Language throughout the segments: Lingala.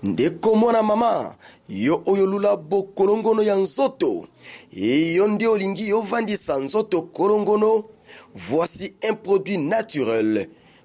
ndeko mwana mama yo oyo olula bokolongono ya nzoto eyo nde olingi ovandisa nzoto kolongono voici un produit naturel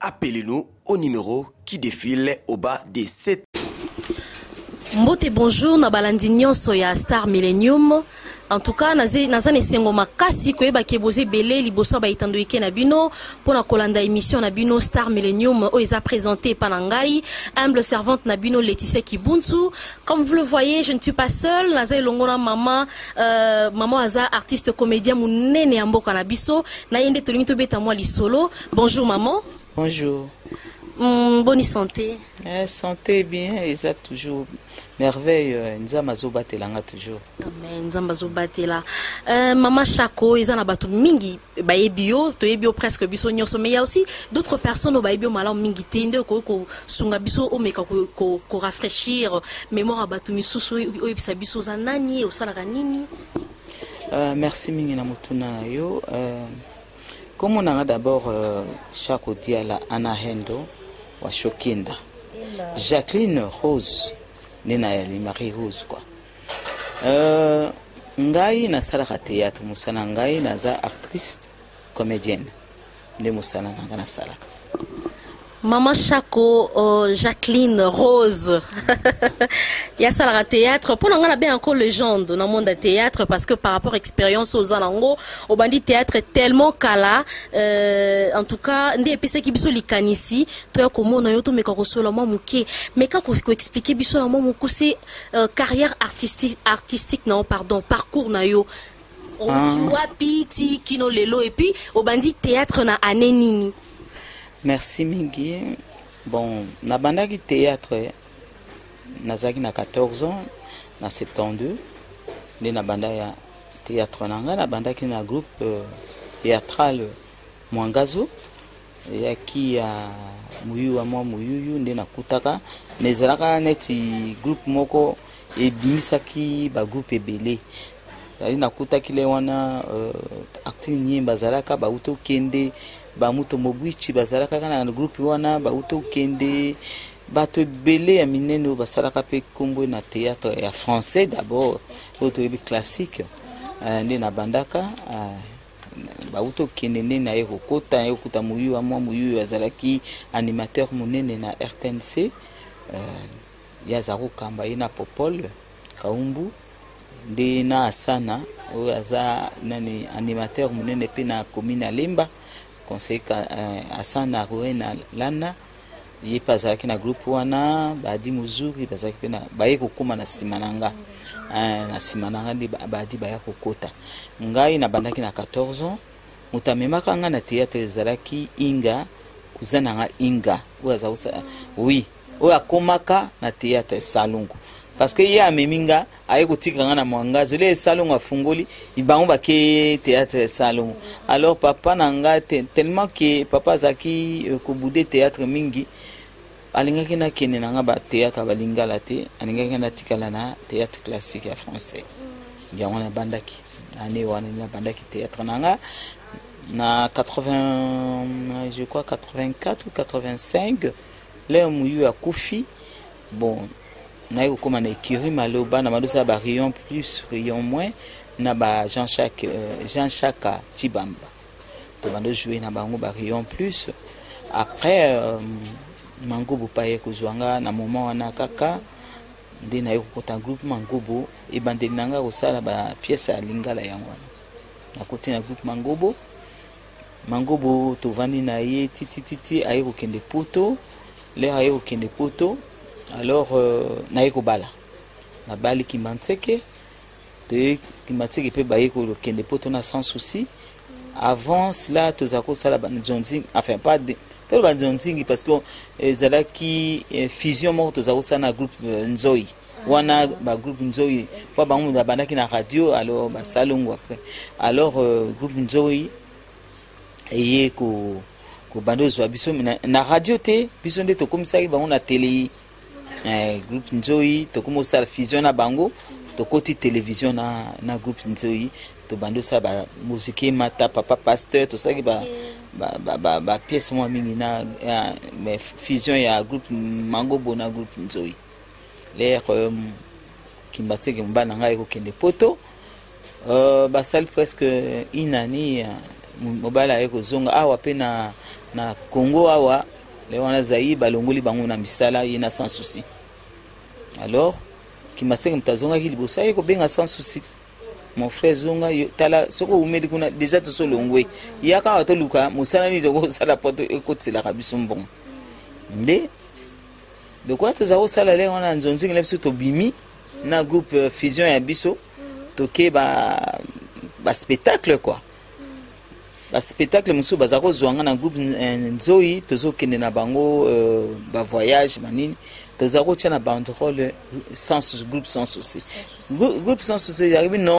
Appelez-nous au numéro qui défile au bas de cette. Mbote bonjour na balandi nyonso ya Star Millennium. En tout cas, naza na esengo makasi koyeba ke boza ebele liboso ya baitando ike na bino mpo na kolanda émission na bino Star Millennium oyo eza présente epa na ngai humble servante na bino Laetitia Kibuntu. Comme vous le voyez, je ne suis pas seule, naza elongo na mama euh, mama aza artiste comédien monene ya mboka na biso. Na ye nde tolingi tobeta mwa lisolo. Bonjour maman. Bonjour. Mm, bonne santé. Eh, santé bien, ça toujours merveille. Euh, Nzamba zobatela nga toujours. Amen. Nzamba zobatela. Euh, Maman Chako, ils en a battu mingi. Bah ebio, to ebio presque biso nyoso. Mais il y a aussi d'autres personnes au bah ebio malam mingi tende ko ko sunga biso o meka ko ko ko rafraîchir mémoire à battu misusu o ebisa biso za nani o sala nini. Euh, merci mingi na mutuna yo. Euh, Comment on d'abord euh, Chaco Diala Anna Hendo wa Shokinda. Jacqueline Rose nena Marie Rose quoi. Euh, ngai na salaka théâtre musana ngai naza actrice comédienne nde musana nanga na salaka. Maman Chaco, euh, Jacqueline Rose, ya salaka théâtre. Mpo na ngai na benga ko legende na monde ya théâtre parce que par rapport expérience oza nango obandi théâtre tellement kala euh, en tout cas nde epesaki biso likanisi toya komona yo tomeka kosola mwa moke meka koexplike biso na mwa mokuse euh, carrière artistique, artistique na yo pardon parcours na yo oti wapi ti kino lelo epuis obandi théâtre na année nini merci mingi bon nabandaki théâtre nazalaki na 14 ans na 72 nde nabanda ya théâtre na ngai nabandaki na groupe euh, théâtrale mwangazo eyaki ya moyuwa mwa moyuyu nde nakutaka mais ezalaka neti groupe moko ebimisaki bagroupe ebele ali nakutaki le wana uh, actini nyemba bazalaka bauti okende bamuto mobwichi bazalaka kaka na groupe wana bauti okende bato ebele ya minene oyo basalaka mpe nkombo na théâtre ya français d'abord oyo toyebi classique uh, nde nabandaka uh, bauti okende nde naye kokota naye kokuta moyuwa mwa moyuwa azalaki animateur monene na rtnc uh, ye aza kokamba ye na popol kaumbu nde na asana oyo aza nani animateur monene mpe na commune ya lemba conseil uh, asana akoye na lana ye mpe azalaki na groupe wana badi mozuri bazalaki mpe baye kokóma na nsima na nga eh, na nsima na nga nde badi baya kokota ngai nabandaki na 14 ans moto amemaka ngai na théâtre ezalaki inga kuza na nga inga oyo aza oui oyo akomaka na theatre salongo parce que ye amemi nga aye kotika nga na mwanga azoli ye salongo afungoli bango bakeye théâtre salongo alors papa na nga te, tellement ke papa azalaki euh, kobude théâtre mingi alingaki nakende na nga bathéâtre balingala te alingaki natikala na théâtre classique ya français yango nabandaki ane wana nabandaki théâtre na nga na 80 je crois 84 ou 85 Leo muyu akufi bon naye kokoma na écurie malo bana madosala ba rayon plus rayon moins na ba jean chaque euh, jean chaque chibamba to bando jouer na bango ba rayon plus après euh, mangobo paye kozwa nga na moment wana kaka nde naye kokota groupe mangobo ebandeli na nga kosala ba pièce ya lingala yango wana nakoti na groupe mangobo mangobo tovandi na ye titititi aye kokende poto lere aye kokende poto alors euh, naye kobala nabali kimanseke toye kimanseke mpe baye kokende poto na sans souci avant cela tozala kosala banzonzi enfin pas de, toloba nzonzingi parce que ezalaki eh, fusion moko tozala kosala na groupe euh, nzoi wana bagroupe nzoi mpo bango moto abandaki na radio alors basalongo après alors euh, groupe nzoi eye kobanda kozwa biso na radio te biso nde tokomisaki bango na tele eh, groupe nzoi tokomi kosala fusion na bango tokoti télévision na, na groupe nzoi tobandi osala bamoziki emata papa pasteur tosalaki ba, ba, ba, ba, ba pièce mwa mingi na ya, fusion ya groupe mangobo na groupe nzoi lere euh, kimbatseke mobali na ngai ekokende poto euh, basali presque une année euh, mobali aye kozonga awa mpe na, na congo awa le wana zaire balongoli bango na misala ye na sans souci alors kimbatseke moto azongaki liboso aye kobenga sans souci mon frère zonga yo tala soki oumeli kuna deja tosolongwe yaka awa toluka mosala nini tokosala po ekotiselaka biso mbongo nde lokola tozala kosala lenge wana nzonzingi na biso tobimi na groupe euh, fusion ya biso toke baspectacle ba kua baspectacle mosusu baza kozwa nga na groupe euh, nzoi tozokende na bango euh, bavoyage manini toza kotya na banderole groupe sans souci groupe sans souci yakobi non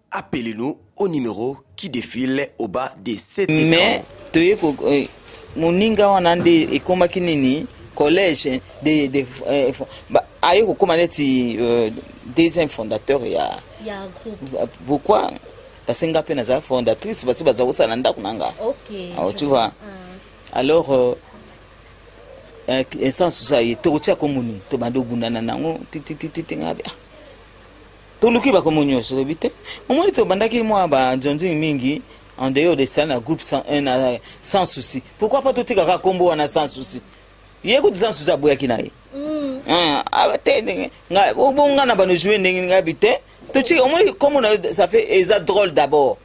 Appelez-nous au numéro qui défile au bas de cet écran. Mais toye ko eh, moninga wana nde ekomaki nini collège de, de eh, ba, aye kokoma neti euh, deuxième fondateur ya, ya groupe pourquoi parce que nga mpe naza fondatrice basi baza kosala ndako na nga okay, ah, tu vois ah. alors euh, eh, essence oza ye tokotia komoni tobandi obundana nango tititititi ngabe ah toluki bakomo nyonso olobi te omoni tobandaki mwa bajonjing mingi en dehors de ça na groupe 101 na sans souci pourquoi pas totikaka nkombo wana sans souci ye kutu sans souci aboyaki na ye mm. ah, ah, te ndenge bonga na bano joue ndenge ngai bi te totika omoni nkombo na yo ça fait eza drôle d'abord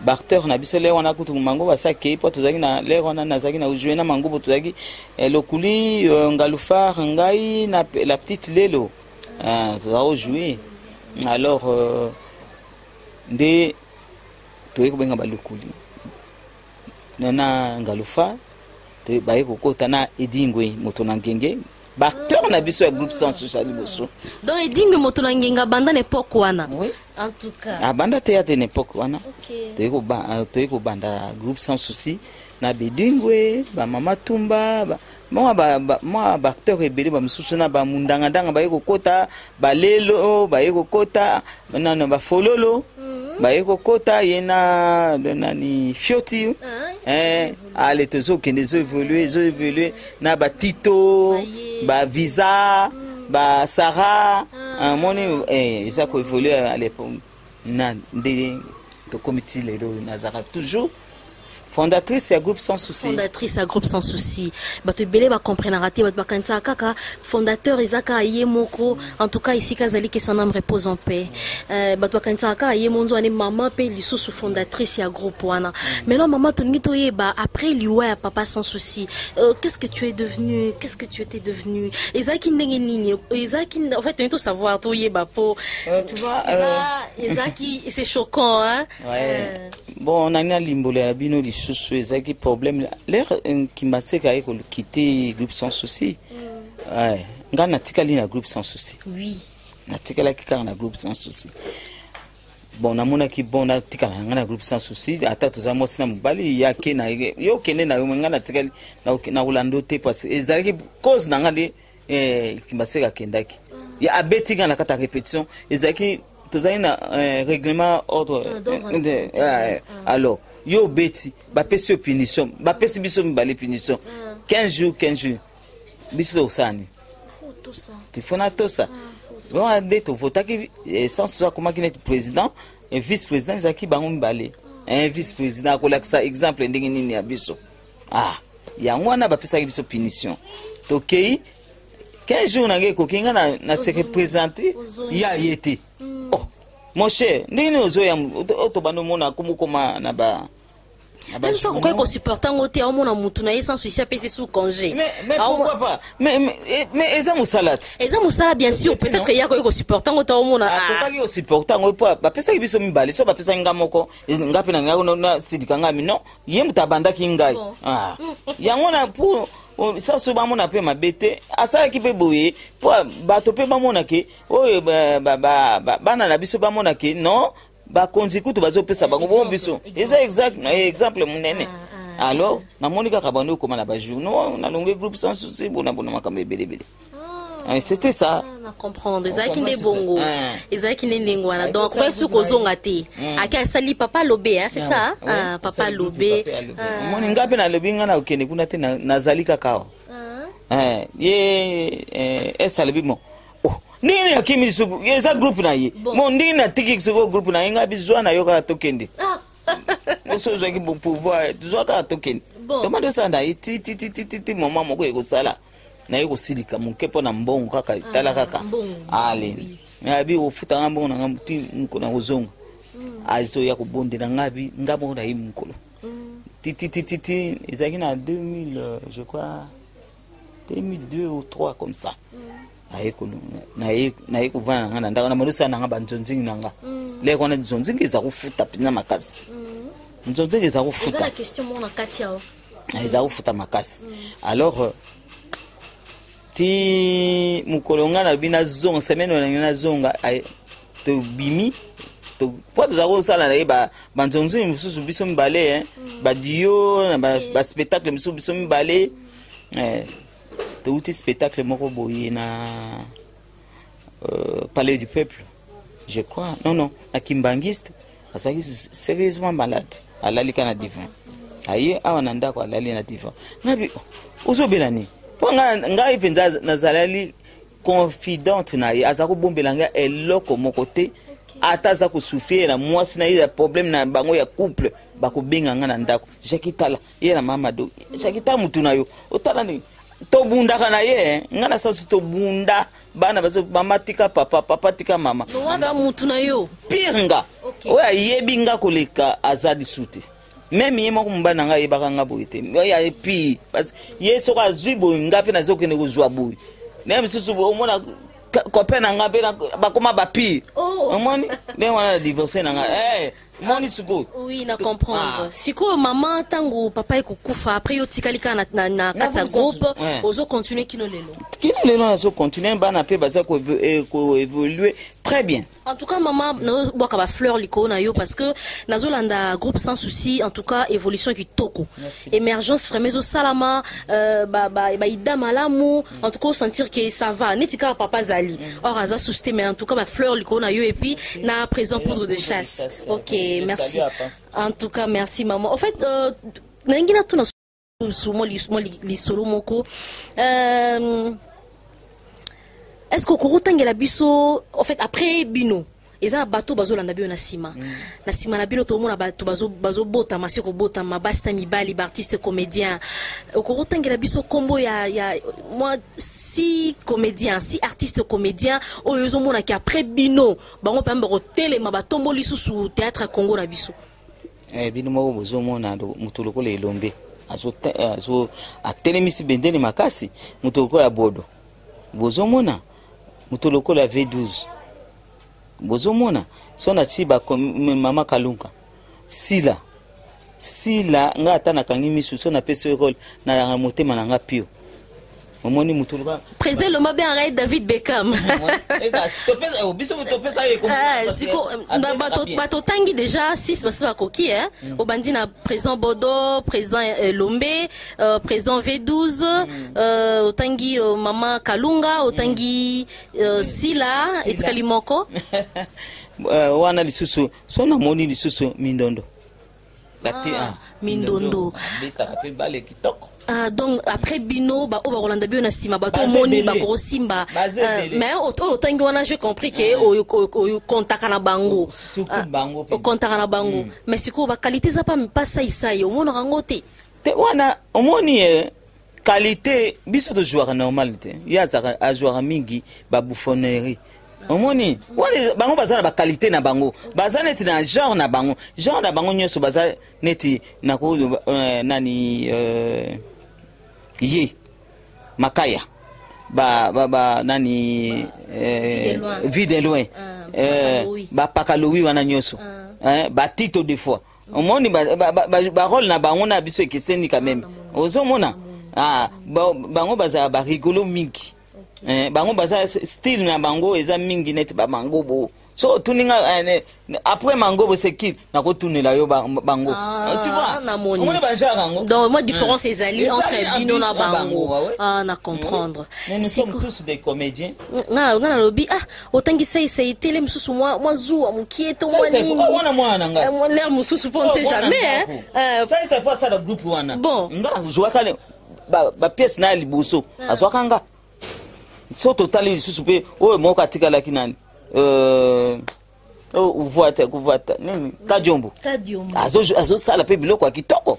bacteur na biso lere wana kutu mango basi akei mpo tozalaki na lere wana nazalaki na ujue na mangubo tozalaki eh, lokuli eh, ngalufar ngai na la petite lelo ah, tozalaki ojue alors euh, nde toyei kobenga balokuli na ngalufar baye kokota na edingwe moto na ngenge baacteur na biso ya groupe sans oza liboso donc edingi moto na ngenga abanda na epoke wana oui. en tout cas abanda teyate na epoke wana okay. toyei kobanda euh, groupe sans souci na bedingwe bamama tumba ba, mwa baacteur ba, ba, ebele bamosusu na bamundangandanga baye kokota balelo baye kokota nano bafololo mm -hmm. baye kokota ye na nani fioti ah, eh, ale tozokende ezo evolue ezo evolue na batito bavisa basara amoni ah. ah, eh, eza koevolue alepo na nde tokomi ti lelo oyo nazalaka toujours fondatrice ya groupe sans souci fondatrice ya groupe sans souci bato ebele bacomprenaka te bato bakanisaka kaka fondateur eza kaka ye moko en tout cas esika azali ke son âme repose en paix euh, bato bakanisaka kaka ye monzo ane mama mpe lisusu fondatrice ya groupe wana maintenant mama tolingi toyeba après liwa ya papa sans souci euh, qu'est ce que tu es devenu qu'est ce que tu étais devenu ezalaki ndenge nini ezalaki en fait tolingi tosavoir toyeba mpo euh, tu vois ezalaki c'est choquant hein ouais. bon nani nalimbolela bino lisusu ezalaki problème lere kimbatseka ye kolokite groupe sans souci Ouais. ngai natikali na groupe sans souci oui natikalaki kaka na groupe sans souci bon namonaki bon natikala na ngai na groupe sans souci ata toza mwasi na mobali ye ake na ye yo okende na yo me ngai natikali nakoki- nakolanda yo te parce ezalaki cause na ngai nde eh, kimbaseke akendaki ye abeti ngai na kati ya répétition ezalaki tozali na eh, règlement ordre Ah, d'ordre eh, de- intérieur. eh, alors yo obeti bapesi yo punition bapesi biso mibale punition 15 jours 15 jours biso tokosala nini tifo natosa wana nde tovotaki eh, sansusu akomaki neti président eh, vice président ezalaki bango mibale eh, vice président akolakisa exemple ndenge nini ya biso ah yango wana bapesaki biso punition tokei 15 jours na ngai ekoki ngai na se représente ya ye te mm. oh, mon cher ndenge nini ozoya tobanda omona komokoma na ba même soki okoki kosupporte yango te aomona motu na ye sans susi apesi sous congé mais eza mosala te eza mosala bien sûr peut-être ye akoki kosupporte yango te aomona akokaki kosupporte yango mpo bapesaki biso mibale so bapesaki ngai moko ngai mpe na nasidika ngai mi non ye moto abandaki ngai yango na pour sasu bamona mpe mabe te asalaki mpe boye mpo bato mpe bamona ke oyo ba, ba, ba, ba, bana na biso bamona ke non bakonzi kutu bazopesa bango bo biso eza exemple monene ah, ah. alors namoni kaka bando okoma na bajournaux nalongi groupe sans souci bona bona makambo ebelebele ah. eh, c'était ça na comprendre ezalaki nde bongo ezalaki nde ndenge wana donc akobaki soki kozonga te hmm. ake asali papa lobe hein, c'est ça papa lobe omoni ngai mpe nalobi ngai na okende kuna te nazali kaka awa eh, ye eh, esalobi bon Oh, ndenge nini akimi suku eza groupe na ye Bon. mo ndenge natiki soko groupe na ye ngai bizwa na yo kaka tokende Ah, oso ozwaki bo- pouvoir tozwa kaka tokende Bon. tomande osala na ye tititititi moma moko ekosala naye kosilika moke mpo na mbongo kaka etala kaka mbongo. ale abi ofuta ngai mbongo na ngai ti mokolo na kozonga azoya kobondela ngai abi ngai moko na ye mokolo tititititi ezalaki na 2000 euh, je crois 2002 ou 3 comme ça naye kovanda na ngai na ndako na malosi na ngai banzonzingi na ngai mm. leke wana nzonzingi eza kofuta mpenza makasi mm. nzonzingi eza kofuta ah, eza kofuta makasi mm. alors euh, ti mokolo ngai nalobi nazonga semaine oyo nangi nazonga tobimi mpo toza kosala na ye banzonzingi mosusu biso mibale badio na baspectacle mosusu biso mibale eh, touti spectacle moko boye na euh, palais du peuple je crois non non na kimbanguiste azalaki sérieusement malade alali ka na divan aye awa na ndako alali na divan ngabi ozobela nini mpo ngai mpenza nazalali confidente na ye aza kobombela ngai eloko moko te ata aza kosufie na mwasi na ye ya problème na bango ya couple bakobenga ngai na ndako jaki tala ye na mama do shakita mutu na yo otala nini tobundaka na ye eh. ngai na sansu tobunda bana bazo mama tika papa papa tika mama wana mutu na yo pire nga oyo ayebi nga koleka aza lisu te meme ye moko mobali na ngai ayebaka nga boye te epi ye soko azwi boye nga mpe nazokende kozwa boye naye mosusu omona copain na nga mpe bakoma bapire oh. omoni ndenge wana na divorce na nga eh. omoni sikoyo oui na comprendre ah. sikoyo mama ntango papa ekokufa après yo tikali kaka na, na kati ya groupe eh. ozo continue kino lelo kino lelo nazo continue bana mpe baza koévolue eh, très bien en tout cas mama nazobwaka bafleur likolo na yo parce que nazolanda groupe sans souci en tout cas évolution kitoko émergence vraiment ezosalama euh, baida malamu en tout cas sentir que ça va neti kaka papa azali or aza soucité mais en tout cas bafleur likolo na yo et puis na présent poudre de chasse ok merci en tout cas merci maman en fait euh, nalingi natuna mwa lisolo moko euh, est ce que okokotangela biso en fait après bino eza na bato bazolanda bino na nsima na nsima na bino tokomona bato bazobotama se kobotama basi na mibali baartiste comédien okoki kotangela biso nkombo ya, ya mwa si comédien si artiste comédien oyo ezomonaki après bino bango mpe bakotelema batombo lisusu théâtre ya congo na biso eh, bino moko bozomona moto lokola elombe atelemisi bendele makasi moto lokola bodo bozomona moto lokola v12 bozomona so nati mama kalunga sila sila ngai ata nakangi misu so napesi yo role nalanga motema na ngai pio omoni motu loba président loma be arai david beckham bato otangi déjà 6 basi bakoki obandi na président bodo président eh, lombe euh, président V12 euh, otangi euh, mama Kalunga otangi euh, Sila etikali moko euh, wana lisusu so namoni lisusu mindondo ah, ah, mindondo abetaka mpe bale kitoko Uh, donc après bino baoyo bakolanda bino na nsima bato omoni bakosimba euh, mais oyo otangi wana je compris ke okontaka na bango okontaka na bango mais sikoyo bakalite eza mpa saisai omonaka yango te te wana omoni eh, qualité biso tozwaka normal te ye azaka azwaka mingi babouffonnerie omoni wana bango baza na bakalite na bango baza neti na genre na bango genre na bango nyonso baza neti nako uh, nani uh, ye makaya ba, ba, ba nani eh, vide loin bapaka lowi wana nyonso ah. eh, batito de fois omoni barole ba, ba, ba, ba na bango na biso ekeseni quand même ozomona ah, bango bazala barigolo mingi okay. eh, bango baza style na bango eza mingi neti bamangobo so otuni nga eh, après mangobo c'est qui nakotunela yo bango ah, tu vois omoni bagenre yango donc moi différence eh. ezali entre bino na bango ah, na comprendre nous sommes tous des comédiens nga nalobi ah otangi seisei tele mosusu mwa, mwa zuwa mokie to mwa nini oh, wana mwana na ngai eh, lere mosusu mpo nse oh, jamais eh. seisei mpo asala groupe wana bon nga nazwaka bapiese na ya liboso ah. azwaka nga so totali lisusu mpe oyo moko atikalaki nani euh, Oh, uvwata kuvwata nini kadiombo azosala mpe biloko ya kitoko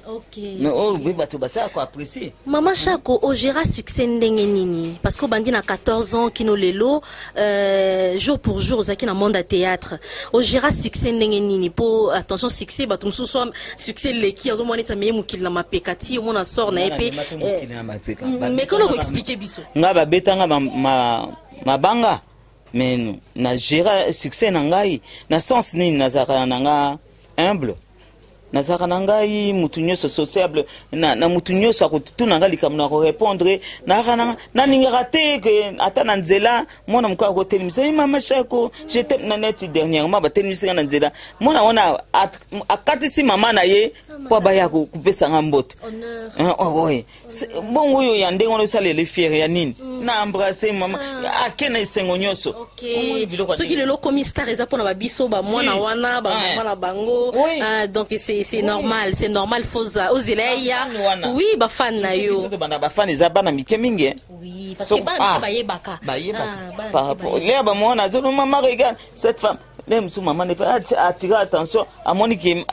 oh, bato basala ko apprécier mama shako ogera succès ndenge nini parce que obandi na 14 ans kino lelo euh, jour pour jour ozalaki na monde ya théâtre ogera succès ndenge nini mpo attention succès bato mosusu succès eleki azomona neti ameye mokili na mapeka ti omona sort na ye mpe euh, mekona koexplike biso ngai babetanga mabanga ma, ma mais na gera succès na ngai na sens nini nazalaka na nga humble nazalaka na ngai motu nyonso sociable na, na motu nyonso akotuna ngai likambo na korepondre nalingaka te ke ata na nzela mwana moko akotelemisa ye mama shako jete na neti dernièrement batelemisi ngai na nzela mwana wana akatisi mama na ye mpo abaya kopesa ngai mbote bongo oyo ya ndenge wana osalela efiere ya nini mm. na embrase mama ah. ake na esengo nyonso soki lelo okomi star eza mpona babiso bamwana wana bamama na bango ah, donc c'est normal c'est normal foza ozela ya oui bafane na yo tobanda bafane eza bana mike mingi ah. bayebaka lea bamwana azolomama regarde cette femme le mosusu mama ne atira attention amoni ke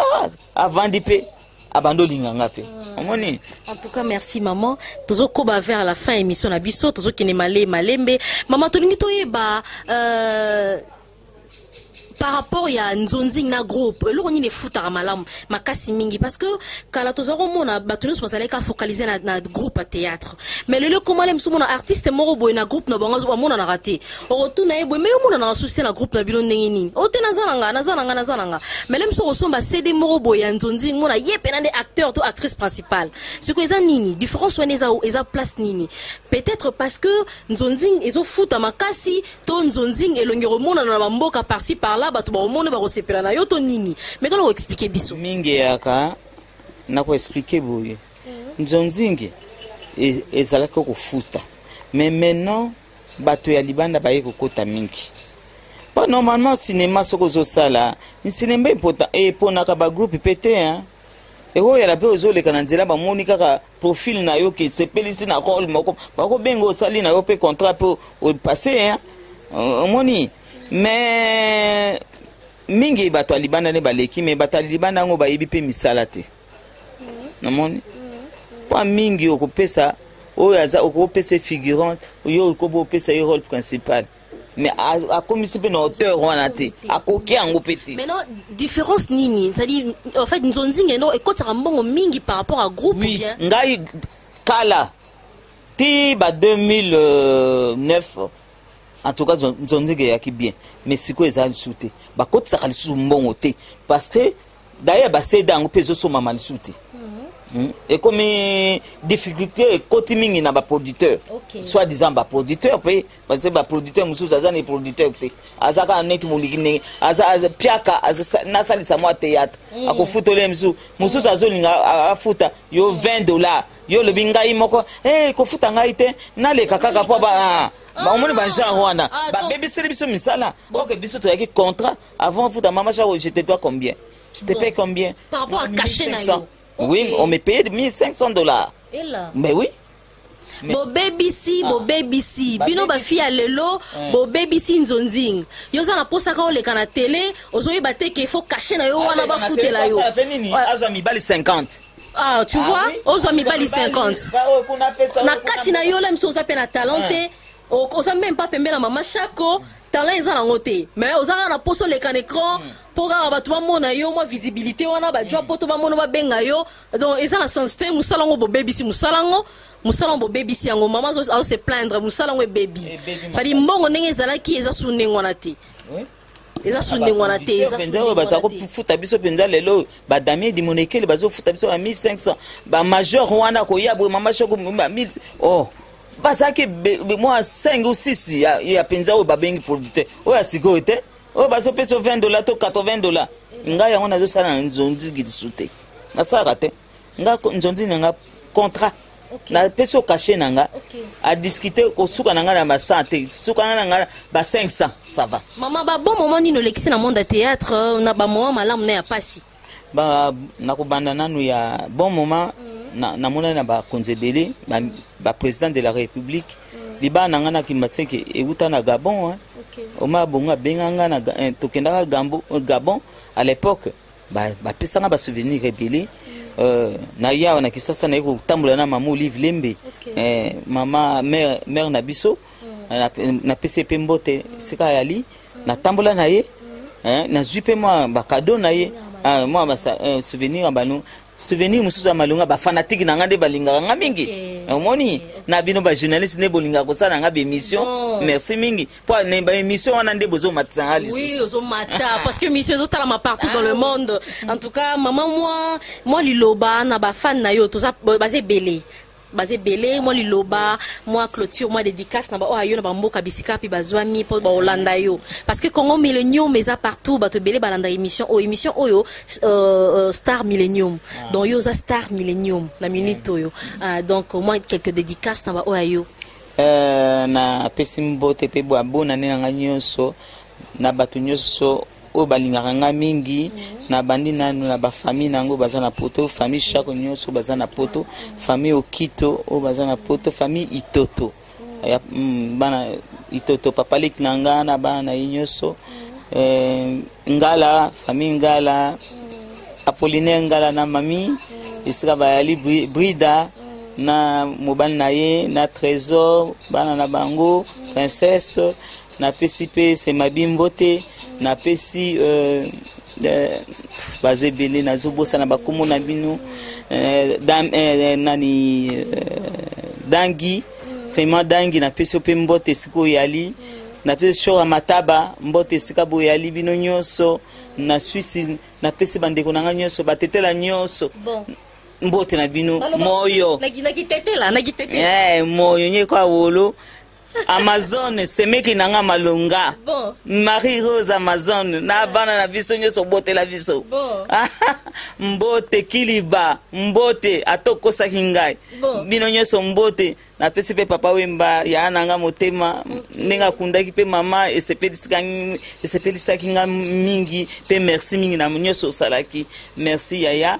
avandi mpe abandi olinga nga mpe hmm. omoni en tout cas merci maman tozokoba vers la fin émission na biso tozokende male malembe maman tolingi toyeba euh, par rapport ya nzonzing na groupe eloko nini efutaka malamu makasi mingi parce que kala toza komona bato nyonso bazalaki afocalise na, na groupe ya théâtre mais lelo ekomala mosu mona artiste moko boye na groupe na bango amonanaka te okotuna ye boye me omonana basusi te na groupe na bino ndenge nini o oh, te naza na nga naza na nga naza na nga melem soki osomba cd moko boye ya nzonzi mona ye mpena nde acteur to actrice principale sikoyo eza nini différence wana eza, eza place nini peut-être parce que nzonzing ezofuta makasi to nzonzing elongi komonana na bamboka parci par là bato bakomona bakosepela na yo to nini meka na koexplike biso mingi eyaka na koexplike boye mhm. nzonzingi e, ezalaki kofuta mais maintenant bato ya libanda baye kokota mingi po normalement cinéma soki ozosala cinéma eponaka bagroupe mpe te hein? ekoyela mpe ozoleka na nzela bamoni kaka profil na yo ke sepelisi na role moko bakobenga osali na yo mpe contrat mpe opasse hein? omoni mais mingi bato ya libanda nde baleki me bato ya libanda yango bayebi mpe misala te namoni mpo mingi okopesa oyo aza okopesa figurant yo okoba opesa ye role principal mais akomisi mpe na hauteur wana te akoki yango mpe te maintenant différence nini cestadire en fait nzonzinga eno ekotaka mbongo mingi par rapport à groupe oui. bien ngai kala ti ba 2009 en tout cas nzonzinga eyaki bien mais sikoyo eza lisusu te bakotisaka lisusu mbongo te parce que D'ailleurs ba CD yango mpe ezosomama lisusu te. Hmm. ekomi difficulté ekoti mingi na baproducteur okay. soit disant baproducteur mpe parce baproducteur mosusu aza na producteur te aza kaka neti moliki ndenge aza piaka nasalisa mwa théâtre mm. akofutola ye mosusu mosusu azolinga afuta yo 20 dollar yo olobi ngai moko hey, eh, kofuta ngai te naleka kaka mpo ba ah, omoni bagenre wana ah, babebiseli biso misala oke biso toyaki contrat Avant afuta mama Sharo, je te dois combien Je te bon. paye combien Par rapport à cachet na yo. Okay. Oui, on me payait 1500 dollars. Et là Mais oui. bobebisi ah. bobebisi bino bafi ya lelo eh. bobebisi nzonzing yo oza na mposa kaka oleka na tele ozoyeba te ke fo kashe na yo ah, wana bafutela yo azwa mibali 50 Ah, tu ah, vois oui. ozwa mibali 50 na kati na yo la miso oza mpe na talent te eh. oza meme mpa pembe na mama shako talent eza nango te mais oza kaka na poso oleka na écran mpo hmm. kaka bato bamona yo mwa visibilité wana bajwa hmm. poto bamona babenga yo donc eza na sens te mosala yango bobebisi mosala yango mosala yango bobebisi yango mama azose plaindre mosala yango ebebi sadi mbongo ndenge ezalaki eza su ndenge wana te eza su ndenge wana te ezapenza oyo baza kofuta biso mpenza lelo badamie dimonekele bazofuta biso ba 1500 bamajor wana koya boye mama shoko 1000 o oh. bazalaki mwa 5 ou 6 ya, ya mpenza oyo babengi producteur oyo ya sikoyo te oyo bazopesa 20 dollar to 80 dollar ngai yango nazosala na nzonzi lisu te nasalaka te nga nzonzi na nga contrat okay. napesi yo kashe na nga okay. adiskute kosuka na nga na ba 100 te suka na nga ba 500 ça va mama babon moment nini olekisi na monde ya théâtre na bamoment malamu na ya mpasi ba nakobanda nanu ya bon moment mm. namonani na, na bakonzi ebele baprésident ba de la république mm. libaa na ngai na kimbatseke euta na gabon hein. okay. oma bongo abenga ngai na eh, tokendaka eh, gabon à l'époque bapesa ngai basouvenir ebele mm. euh, na ye awa na kisasa naye kotambola na mama olive lembe okay. eh, mama mare na biso mm. napesi ye mpe mbote esika ayali natambola na ye eh, nazwi mpe mwa bakado na ye ah, mwa eh, souvenir ya bano souvenir mosusu ya malonga bafanatike na ngai nde balingaka ngai mingi omoni na bino bajournaliste nde bolingaka kosala na ngai baémission merci mingi mpo na baémission wana nde bozomatisa ngai lisusuozomata parce que mission ezotalama partout dans le ah. monde en tout cas mama mwa liloba na bafane na yo baza ebele baza ebele mwa liloba mwa clôture mwa dédicace na baoyo ayo na bamboka bisika mpe bazwami mpo baolanda yo parce que congo millennium eza partout bato ebele balanda émission oyo émission oyo euh, euh, star millennium ah. donc yo oza star millennium na minute mm. oyo ah, donc mwa quelques dédicace na baoyo ayo euh, napesi mbote mpe bwa bonane na ngai nyonso na bato nyonso oyo balingaka nga mingi na bandi nanu na bafamille na yango baza na poto famille shako nyonso baza na poto famille okito oyo baza na poto famille itoto ya mm, bana itoto papa leki na nga na bana na ye nyonso eh, ngala famille ngala apolinaire ngala na mami esika bayali brida na mobali na ye na trésor bana na bango princesse napesi mpe semabi mbote napesi euh, euh, baza ebele nazobosana bakomo na bino euh, dam, euh, nani euh, dangi vraiment dangi napesi yo mpe mbote esika oyali napesi shora mataba mbote esika boyali bino nyonso na swisi napesi bandeko na ngai nyonso batetela nyonso bon. mbote na bino moyo eh, moyo nyeko awolo amazone semeki na nga malonga bon. marie rose amazone na bana na biso nyonso obotela biso bon. mbote kiliba mbote atokosaki ngai bon. bino nyonso mbote napesi mpe papa wemba ya na nga motema ndenge akundaki mpe mama esepelisaki nga mingi mpe merci mingi na nyonso osalaki merci yaya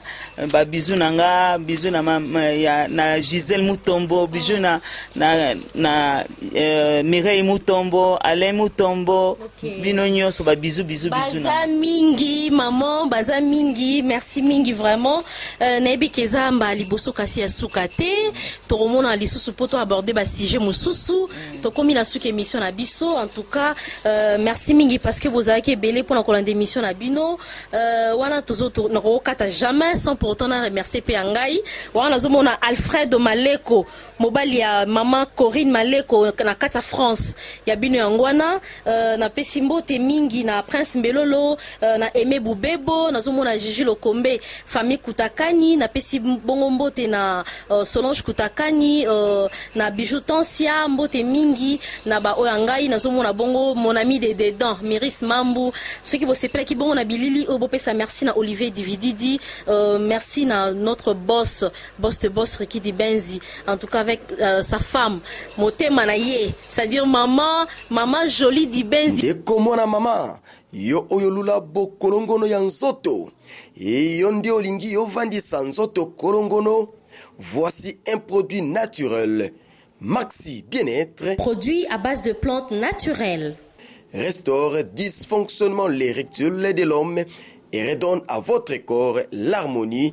babizu na nga bizu na, ya, na gisele mutombo bizu na, na, na uh, mireille mutombo alain mutombo okay. bino nyonso babizu bizu bizu baza mingi maman baza mingi merci mingi vraiment Euh, nayebi ke eza mbala liboso kasi ya suka te tokomona lisusu mpo toaborde basujet mosusu tokomi na suka émission na biso en tout cas euh, merci mingi parce que bozalaki ebele mpo na kolanda émission na bino euh, wana nakokokata jamais sans pourtant na remercier mpe ya ngai wana nazomona alfredo maleko mobali ya mama Corinne Maleko na kati ya France ya bino yango wana uh, napesi mbote mingi na Prince Mbelolo uh, na Aime Bubebo nazomona Gigi Lokombe famille Kutakani napesi bongo mbote na uh, Solange Kutakani uh, na Bijou Tansia mbote mingi na ba oyo ngai nazomona bongo mon ami de dedans Miris Mambu soki bosepelaki bongo na bilili oyo bopesa merci na Olivier Divididi uh, merci na notre boss boss de boss Ricky Dibenzi, en tout cas avec euh, sa femme, Motema Naye, c'est-à-dire maman, maman jolie Dibenzi. Ekomona maman, yo oyo lula bokolongono ya nzoto, et yo nde olingi yo vandisa nzoto kolongono, voici un produit naturel, Maxi Bien-être. Produit à base de plantes naturelles. Restaure dysfonctionnement l'érectile de l'homme et redonne à votre corps l'harmonie